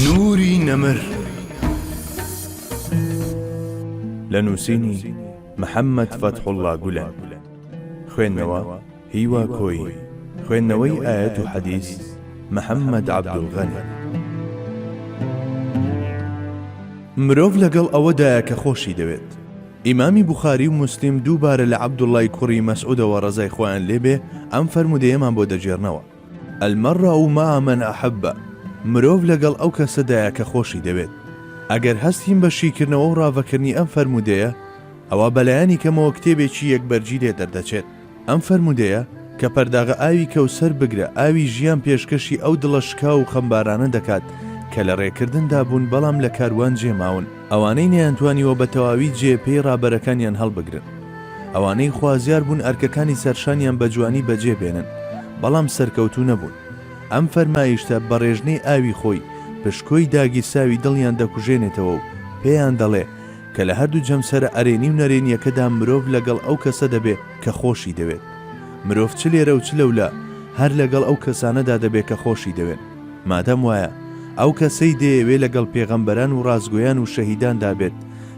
نوری نەمر لە نووسینی محەممەد فەتحوڵا گولەن خوێندنەوە هیوا کۆی خوێندنەوەی ئاەت و حەدیث محەممەد عبدولغەنی مرۆڤ لەگەڵ ئەوەدایە کە خۆشی دەوێت ئیمامی بخاری و مسلیم دووبارە لە عبدوڵای کوڕی مەسعودەوە ڕزای خۆیان لێبێ ئەم فەرمودەیەمان بۆ دەجێرنەوە المرء مع من احب، مرۆڤ لەگەڵ ئەو کەسەدایە کە خۆشی دەوێت. ئەگەر هەستین بە شیکردنەوە و ڕاڤەکردنی ئەم فەرموودەیە، ئەوا بەلایەنی کەمەوە کتێبێکی یەک بەرگی لێ دەردەچێت. ئەم فەرموودەیە، کە پەرداغە ئاوی کەوسەر بگرە ئاوی ژیان پێشکەشی ئەو دڵە شکاو و خەمبارانە دەکات کە لە ڕێکردندا بوون بەڵام لە کاروان جێماون. ئەوانەی نەیانتوانیوە بە تەواوی جێ پێی ڕابەرەکانیان هەڵبگرن. ئەوانەی خوازیار بوون ئەرکەکانی سەرشانیان بە جوانی بەجێ بێنن، بەڵام سەرکەوتوو نەبوون. ئەم فەرمایشتە بە ڕێژنەی ئاوی خۆی، پشکۆی داگیرساوی دڵیان دەکوژێنێتەوە و پێیان دەڵێ کە لە هەردوو جەمسەرە ئەرێنی و نەرێنییەکەدا مرۆڤ لەگەڵ ئەو کەسە دەبێ کە خۆشی دەوێت. مرۆڤ چ لێرە و چ لەولا، هەر لەگەڵ ئەو کەسانەدا دەبێ کە خۆشی دەوێن. مادام وایە ئەو کەسەی دەیەوێ لەگەڵ پێغەمبەران وڕاستگۆیان وشەهیداندا بێت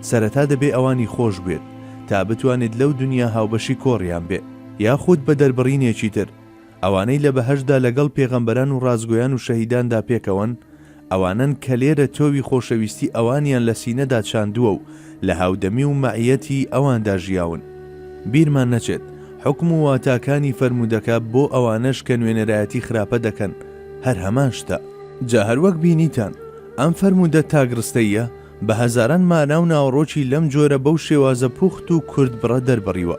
سەرەتا دەبێ ئەوانی خۆش بوێت تا بتوانێت لەو دونیا هاوبەشی کۆڕیان بێ یاخود بە دەربڕینێکی تر ئەوانەی لە بەهەشتدا لەگەڵ پێغەمبەران وڕاستگۆیان وشەهیداندا پێکەوەن ئەوانەن کە لێرە تۆوی خۆشەویستی ئەوانیان لە سینەدا چاندووە و لە هاودەمی و مەعییەتی ئەواندا ژیاون. بیرمان نەچێت، حوکم و واتاکانی فەرموودەکە بۆ ئەوانەش کە نوێنەرایەتی خراپە دەکەن، هەر هەمان شتە. جا هەر وەک بینیتان، ئەم فەرموودە تاکڕستەییە، بە هەزاران مانا و ناوەڕۆکی لەم جۆرە بەو شێوازە پوخت و کورتبڕە دەربڕیوە.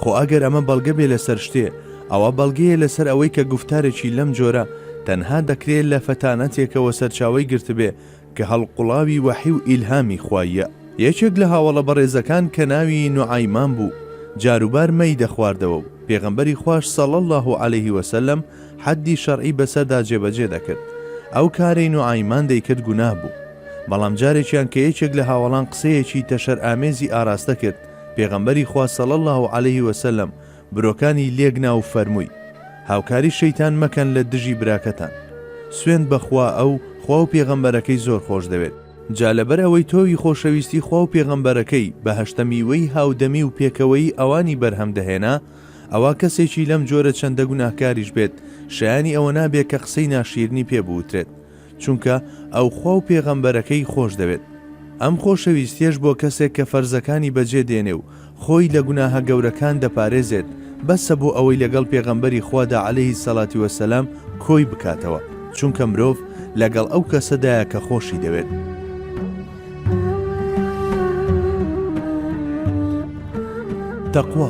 خۆ ئەگەر ئەمە بەڵگە بێ لەسەر شتێ، ئەوە بەڵگەیە لەسەر ئەوەی کە گوفتارێکی لەم جۆرە، تەنها دەکرێ لە فەتانەتێکەوە سەرچاوەی گرتبێ، کە هەڵقوڵاوی وەحی و ئیلهامی خواییە، یەکێک لە هاوەڵە بەڕێزەکان کە ناوی نوعەیمان بوو جاروبار مەی دەخواردەوە و پێغەمبەری خواش صلی اللە علیه وسلم حەدی شەرعی بەسەردا جێبەجێ دەکرد ئەو کارەی نوعەیمان دەیکرد گوناه بوو بەڵام جارێکیان کە یەکێک لە هاوەڵان قسەیەکی تەشەر ئامێزی ئاراستە کرد پێغەمبەری خوا صلی اللە علیه وسلم برۆکانی لێک نا و فەرمووی، هاوکاری شەیتان مەکەن لە دژی براکەتان. سوێند بە خوا ئەو، خوا و پێغەمبەرەکەی زۆر خۆش دەوێت. جا لەبەر ئەوەی تۆوی خۆشەویستی خوا و پێغەمبەرەکەی، بەهەشتە میوەی هاودەمی و پێکەوەیی ئەوانی بەرهەم دەهێنا، ئەوا کەسێکی لەم جۆرە چەندە گوناهکاریش بێت، شایانی ئەوە نابێت کە قسەی ناشیرنی پێ بوترێت. چونکە ئەو خوا و پێغەمبەرەکەی خۆش دەوێت، ئەم خۆشەویستیەش بۆ کەسێک کە فەرزەکانی بەجێ دێنێ و خۆی لە گوناهە گەورەکان دەپارێزێت بەسە بۆ ئەوەی لەگەڵ پێغەمبەری خوادا علیە سەلاتی وسلام کۆی بکاتەوە چونکە مرۆڤ لەگەڵ ئەو کەسەدایە کە خۆشی دەوێت. تەقوا.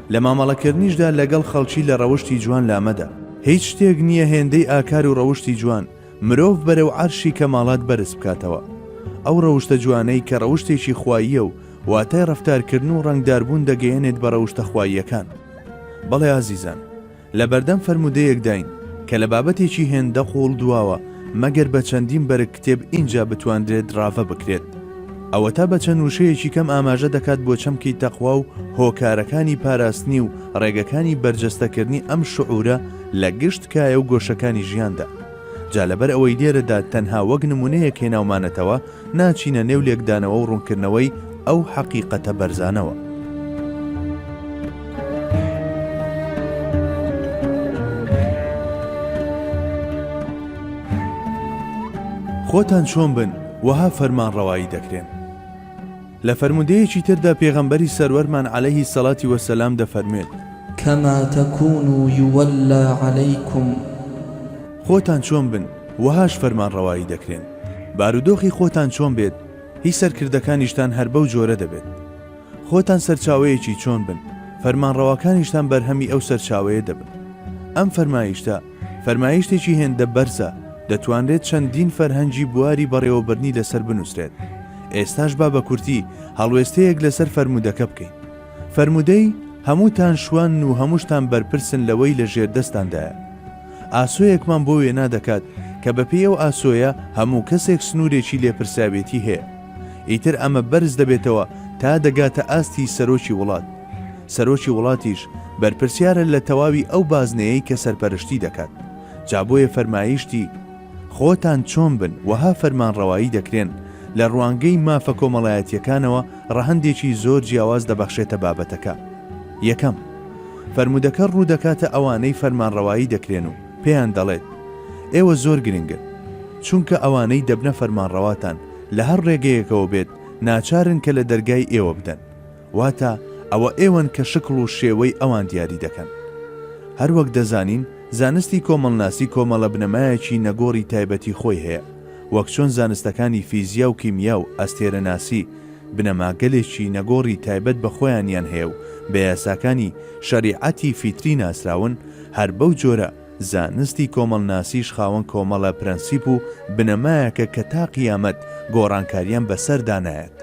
لە مامەڵەکردنیشدا لەگەڵ خەڵکی لە ڕەوشتی جوان لامەدە. هیچ شتێک نییە هێندەی ئاکار و ڕەوشتی جوان، مرۆڤ بەرەو عەرشی کەماڵات بەرز بکاتەوە. ئەو ڕەوشتە جوانەی کە ڕەوشتێکی خواییە و واتای ڕەفتارکردن و ڕەنگداربوون دەگەیەنێت بە ڕەوشتە خواییەکان. بەڵێ ئازیزان! لە بەردەم فەرموودەیەکداین کە لە بابەتێکی هێندە قووڵ دواوە مەگەر بە چەندین بەرگ کتێب ئینجا بتوانرێت ڕاڤە بکرێت. ئەوەتا بە چەند وشەیەکی کەم ئاماژە دەکات بۆ چەمکی تەقوا و هۆکارەکانی پاراستنی و ڕێگەکانی بەرجەستەکردنی ئەم شعوورە لە گشت کایە و گۆشەکانی ژیاندا. جا لەبەر ئەوەی لێرەدا تەنها وەک نمونەیەک هێناومانەتەوە، ناچینە نێو لێکدانەوە و ڕونکردنەوەی ئەو حەقیقەتە بەرزانەوە. خۆتان چۆن بن، وەها فەرمانڕەوایی دەکرێن. لە فەرموودەیەکی تردا پێغەمبەری سەروەرمان علیه الصلوة و السلام دەفەرموێت. کما تکونوا یولی علیکم. خۆتان چۆن بن وەهاش فەرمانڕەوایی دەکرێن، بارودۆخی خۆتان چۆن بێت هی سەرکردەکانیشتان هەر بەو جۆرە دەبێت. خۆتان سەرچاوەیەکی چۆن بن، فەرمانڕەواکانیشتان بەرهەمی ئەو سەرچاوەیە دەبن. ئەم فەرمایشتە، فەرمایشتێکی هێندە بەرزە، دەتوانرێت چەندین فەرهەنگی بواری بەڕێوەبردنی لەسەر بنووسرێت. ئێستاش با بە کورتی هەڵوێستەیەک لەسەر فەرموودەکە بکەین. فەرموودەی، هەمووتان شوانن و هەمووشتان بەرپرسن لەوەی لە ژێردەستتاندایە. ئاسۆیەکمان بۆ وێنا دەکات کە بەپێی ئەو ئاسۆیە هەموو کەسێک سنوورێکی لێپرسراوێتی هەیە. ئیتر ئەمە بەرز دەبێتەوە تا دەگاتە ئاستی سەرۆکی وڵات، سەرۆکی وڵاتیش بەرپرسیارە لە تەواوی ئەو بازنەیەی کە سەرپەرشتی دەکات، جا بۆیە فەرمایشتی خۆتان چۆن بن وەها فەرمانڕەوایی دەکرێن، لە ڕوانگەی مافە کۆمەڵایەتییەکانەوە ڕەهەندێکی زۆر جیاواز دەبەخشێتە بابەتەکە، یەکەم، فەرموودەکە ڕوودەکاتە ئەوانەی فەرمانڕەوایی دەکرێن و پێیان دەڵێت، ئێوە زۆر گرنگن، چونکە ئەوانەی دەبنە فەرمانڕەواتان، لە هەر ڕێگەیەکەوە بێت ناچارن کە لە دەرگای ئێوە بدەن، واتە ئەوە ئێوەن کە شکڵ و شێوەی ئەوان دیاری دەکەن. هەر وەک دەزانین زانستی کۆمەڵناسی کۆمەڵە بنەمایەکی نەگۆڕی تایبەتی خۆی هەیە، وەک چۆن زانستەکانی فیزیا و کیمیا و ئەستێرەناسی بنەماگەلێکی نەگۆڕی تایبەت بە خۆیانیان هەیە و بە یاساکانی شەریعەتی فیتری ناسراون، هەر بەو جۆرە، زانستی کۆمەڵناسیش خاوەن کۆمەڵە پرەنسیپ و بنەمایەکە کە تا قیامەت گۆڕانکاریان بەسەردا نایەت.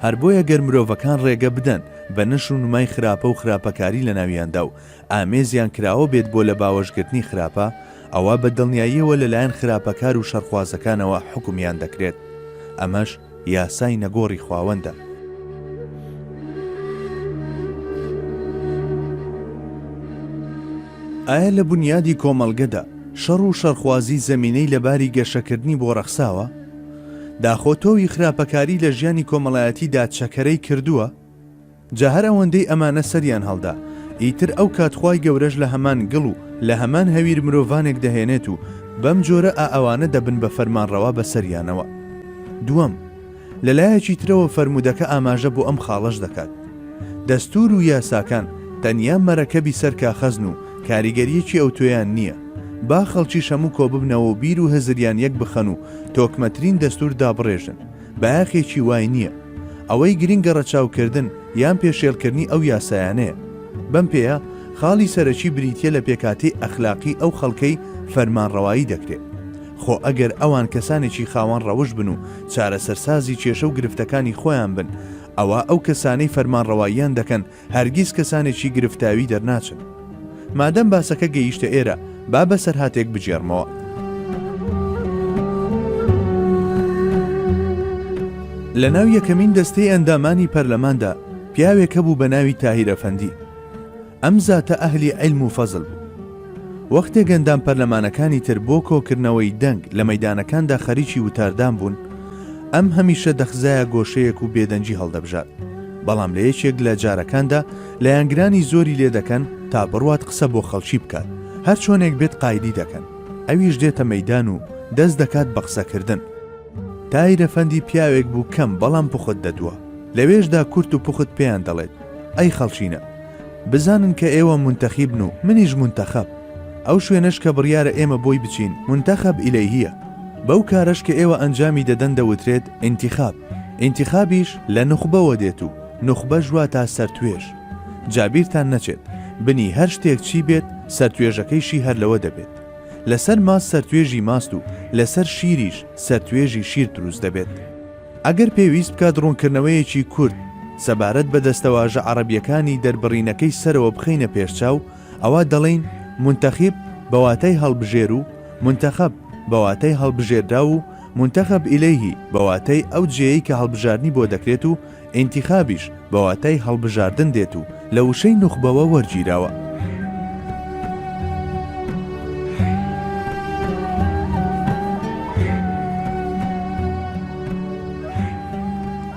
هەر بۆیە گەر مرۆڤەکان ڕێگە بدەن بە نەشر و نمای خراپە و خراپەکاری لە ناویاندا و ئامێزیان کراوە بێت بۆ لە باوەشگرتنی خراپە، ئەوا بە دڵنیاییەوە لەلایەن خراپەکار و شەڕخوازەکانەوە حوکمیان دەکرێت. ئەمەش. یاسای نەگۆڕی خواوەندە. ئایا لە بونیادی کۆمەڵگەدا شەڕ و شەڕخوازی زەمینەی لە باری گەشەکردنی بۆ ڕەخساوە؟ داخۆ تۆوی خراپەکاری لە ژیانی کۆمەڵایەتیدا چەکەرەی کردووە؟ جا هەر ئەوەندەی ئەمانە سەریان هەڵدا، ئیتر ئەو کات خوای گەورەش لە هەمان گڵ و لە هەمان هەویر مرۆڤانێک دەهێنێت و بەم جۆرە ئا ئەوانە دەبن بە فەرمانڕەوا بەسەریانەوە. دووەم، لە لایەکی ترەوە فەرموودەکە ئاماژە بۆ ئەم خاڵەش دەکات، دەستوور و یاساکان تەنیا مەرەکەبی سەر کاخەزن و کاریگەرییەکی ئەوتۆیان نییە، با خەڵکیش هەموو کۆببنەوە و بیر و هزریان یەک بخەن و تۆکمەترین دەستوور دابڕێژن، بایەخێکی وای نییە. ئەوەی گرنگە ڕەچاوکردن یان پێشێلکردنی ئەو یاسایانەیە. بەم پێیە خاڵی سەرەکی بریتییە لە پێکهاتەی ئەخلاقی ئەو خەڵکەی فەرمانڕەوایی دەکرێت. خۆ ئەگەر ئەوان کەسانێکی خاوەن ڕەوشت بن و چارەسەرسازی کێشە و گرفتەکانی خۆیان بن، ئەوا ئەو کەسانەی فەرمانڕەواییان دەکەن، هەرگیز کەسانێکی گرفتاوی دەرناچن. مادەم باسەکە گەیشتە ئێرە، با بەسەرهاتێک بگێڕمەوە. لەناو یەکەمین دەستەی ئەندامانی پەرلەماندا پیاوێک هەبوو بەناوی تاهیر ئەفەندی. ئەم زاتە ئەهلی عیلم و فەزل بوو. وەختێک ئەندام پەرلەمانەکانی تر بۆ کۆکردنەوەی دەنگ لە مەیدانەکاندا خەریکی وتاردان بوون، ئەم هەمیشە دەخزایە گۆشەیەک و بێدەنگی هەڵدەبژارد، بەڵام لە یەکێک لە جارەکاندا لایەنگرانی زۆری لێ دەکەن تا بڕوات قسە بۆ خەڵکی بکات، هەر چۆنێک بێت قایدی دەکەن، ئەویش دێتە مەیدان و دەست دەکات بە قسەکردن. تایرەفەندی پیاوێک بوو کەم بەڵام پوخت دەدوا، لەوێشدا کورت و پوخت پێیان دەڵێت، ئەی خەڵچینە بزانن کە ئێوە منتەخیبن و منیش منتەخەب ئەو شوێنەش کە بڕیارە ئێمە بۆی بچین منتەخەب ئیلەیهیە بەو کارەش کە ئێوە ئەنجامی دەدەن دەوترێت ئینتیخاب ئینتیخابیش لە نوخبەوە دێت و نوخبەش واتا سەرتوێژ جا بیرتان نەچێت بنی هەر شتێک چی بێت سەرتوێژەکەیشی هەر لەوە دەبێت لەسەر ماست سەرتوێژی ماست و لەسەر شیریش سەرتوێژی شیر دروست دەبێت. ئەگەر پێویست بکات ڕوونکردنەوەیەکی کورت سەبارەت بە دەستەواژە عەڕەبییەکانی دەربڕینەکەی سەرەوە بخەینە پێشچاو، ئەوا دەڵێین، منتخب، بە واتای هەڵبژێر و، منتخب، بە واتای هەڵبژێردراو و، منتخب الیه، بە واتای ئەو جێیەی کە هەڵبژاردنی بۆ دەکرێت و، انتخابیش، بە واتای هەڵبژاردن دێت و لە وشەی نوخبەوە وەرگیراوە.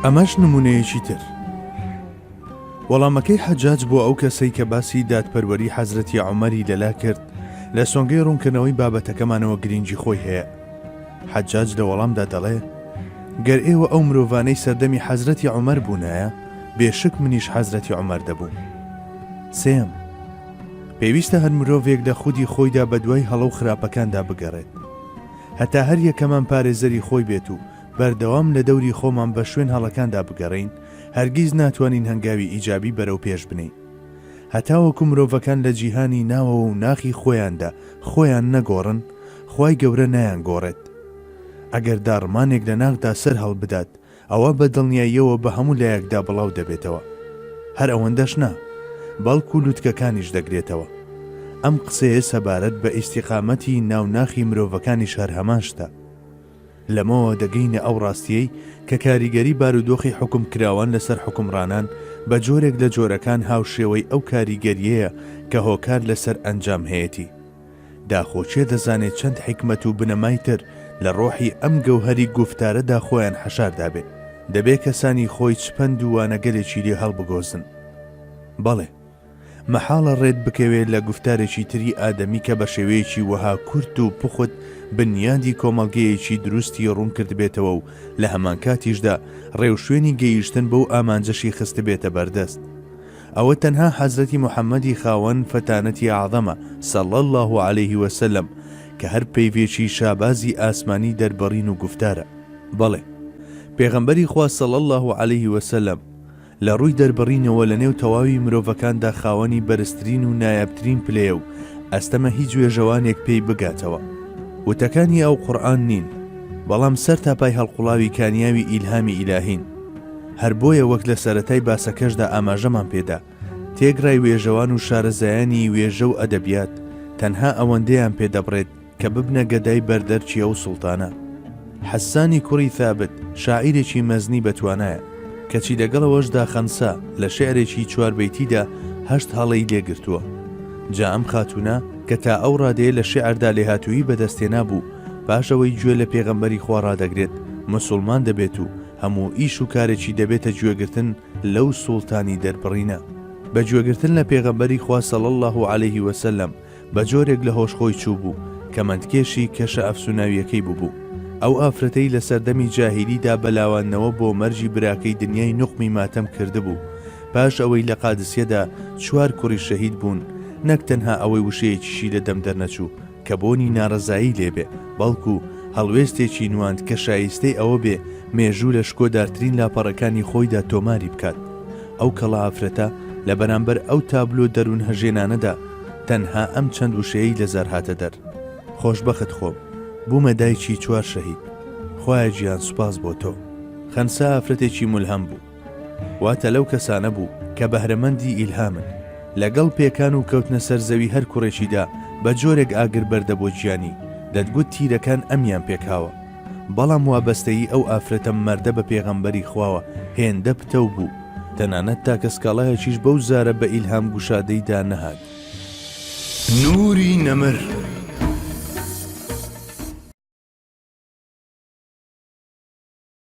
ئەمەش نمونەیەکی تر. وەڵامەکەی حەجاج بۆ ئەو کەسەی کە باسی دادپەروەری حەزرەتی عمەری لەلا کرد لە سۆنگەی ڕوونکردنەوەی بابەتەکەمانەوە گرنگی خۆی هەیە حەجاج لە وەڵامدا دەڵێ، گەر ئێوە ئەو مرۆڤانەی سەردەمی حەزرەتی عومەر بوونایە، بێ شک منیش حەزرەتی عومەر دەبووم. سێیەم، پێویستە هەر مرۆڤێک لە خودی خۆیدا بە دوای هەڵە و خراپەکاندا بگەڕێت. هەتا هەر یەکەمان پارێزەری خۆی بێت و بەردەوام لە دەوری خۆمان بە شوێن هەڵەکاندا بگەڕێین، هەرگیز ناتوانین هەنگاوی ئیجابی بەرەو پێش بنێین. هەتاوەکو مرۆڤەکان لە جیهانی ناوەوە و ناخی خۆیاندا خۆیان نەگۆڕن، خوای گەورە نایانگۆڕێت. ئەگەر داڕمانێک لە ناخدا سەر هەڵبدات، ئەوا بە دڵنیاییەوە بە هەموو لایەکدا بڵاو دەبێتەوە. هەر ئەوەندەش نا، بەڵکو لوتکەکانیش دەگرێتەوە. ئەم قسەیە سەبارەت بە ئیستیقامەتی ناو ناخی مرۆڤەکانیش هەر هەمان شتە. لەمەوە دەگەینە ئەو ڕاستییەی کە کاریگەری بارودۆخی حوکمکراوان لەسەر حوکمڕانان بە جۆرێک لە جۆرەکان هاوشێوەی ئەو کاریگەرییەیە کە هۆکار لەسەر ئەنجام هەیەتی. داخۆ کێ دەزانێ چەند حیکمەت و بنەمای تر لە ڕۆحی ئەم گەوهەری گوفتارەدا خۆیان حەشار دابێ؟ دەبێ کەسانی خۆی چ پەند و وانەگەلێکی لێ هەڵبگۆزن؟ بەڵێ! مەحاڵە ڕێت بکەوێ لە گوفتارێکی تری ئادەمی کە بە شێوەیەکی وەها کورت و پوخت بنیادی کۆمەڵگەیەکی دروستی ڕوون کردبێتەوە و لە هەمانکاتیشدا ڕێوشوێنی گەیشتن بەو ئامانجەشی خستبێتە بەردەست. ئەوە تەنها حەزرەتی محەمەدی خاوەن فەتانەتی ئەعزەمە صلی اللە علیە وسلم کە هەر پەیڤێکی شابازی ئاسمانی دەربڕین و گوفتارە. بەڵێ. پێغەمبەری خوا صلی اللە علیە وسلم لە ڕووی دەربڕینەوە لە نێو تەواوی مرۆڤەکاندا خاوەنی بەرزترین و نایابترین پلەیە و ئەستەمە هیچ وێژەوانێک پێی بگاتەوە. وتەکانی ئەو قورئان نین، بەڵام سەر تا پای هەڵقوڵاوی کانیاوی ئیلهامی ئیلاهین. هەر بۆیە وەک لە سەرەتای باسەکەشدا ئاماژەمان پێ دا، تێگڕای وێژەوان و شارەزایانی وێژە و ئەدەبیات تەنها ئەوەندەیان پێ دەبڕێت، کە ببنە گەدای بەر دەرکی ئەو سوڵتانە. حەسانی کوڕی ثابت شاعیرێکی مەزنی بە توانایە، کەچی لەگەڵ ئەوەشدا خەنسا لە شیعرێکی چوار بەیتیدا هەشت هەڵەی لێ گرتووە. جا ئەم خاتوونە کە تا ئەو ڕادەیە لە شیعردا لێهاتوویی بە دەست هێنابوو، پاش ئەوەی گوێ لە پێغەمبەری خوا ڕادەگرێت، مسوڵمان دەبێت و هەموو ئیش و کارێکی دەبێتە گوێگرتن لەو سوڵتانی دەربڕینە. بە گوێگرتن لە پێغەمبەری خوا صلی اللە علیه وسلم، بە جۆرێک لە هۆش خۆی چووبوو، کەمەندکێشی کەشە ئەفسوناویەکەی بووبوو. ئەو ئافرەتەی لە سەردەمی جاهیلیدا بە لاواندنەوە بۆ مەرگی براکەی دنیای نوقمی ماتەم کردبوو، پاش ئەوەی لە قادسیەدا چوار کوڕی شەهید بوون، نەک تەنها ئەوەی وشەیەکیشی لە دەم دەرنەچوو کە بۆنی نارەزایی لێبێ، بەڵکو هەڵوێستێکی نواند کە شایستەی ئەوە بێ مێژوو لە شکۆدارترین لاپەڕەکانی خۆیدا تۆماری بکات. ئەو کەڵە ئافرەتە لە بەرامبەر ئەو تابلۆ دەروونهەژێنانەدا، تەنها ئەم چەند وشەیەی لە زار هاتە دەر، خۆشبەخت خۆم، بوومە دایکی چوار شەهید، خوایە گیان سوپاس بۆ تۆ. خەنسا ئافرەتێکی مولهەم بوو. واتە لەو کەسانە بوو کە بەهرەمەندی ئیلهامن. لە گەڵ پێکان و کەوتنە سەر زەوی هەر کوڕێکیدا بە جۆرێک ئاگر بەردە بۆ گیانی، دەتگوت تیرەکان ئەمیان پێکاوە. بەڵام وابەستەیی ئەو ئافرەتە مەردە بە پێغەمبەری خواوە هێندە پتەو بوو، تەنانەت تاکە سکاڵایەکیش بەو زارە بە ئیلهام گوشادەیدا نەهات. نوری نەمر.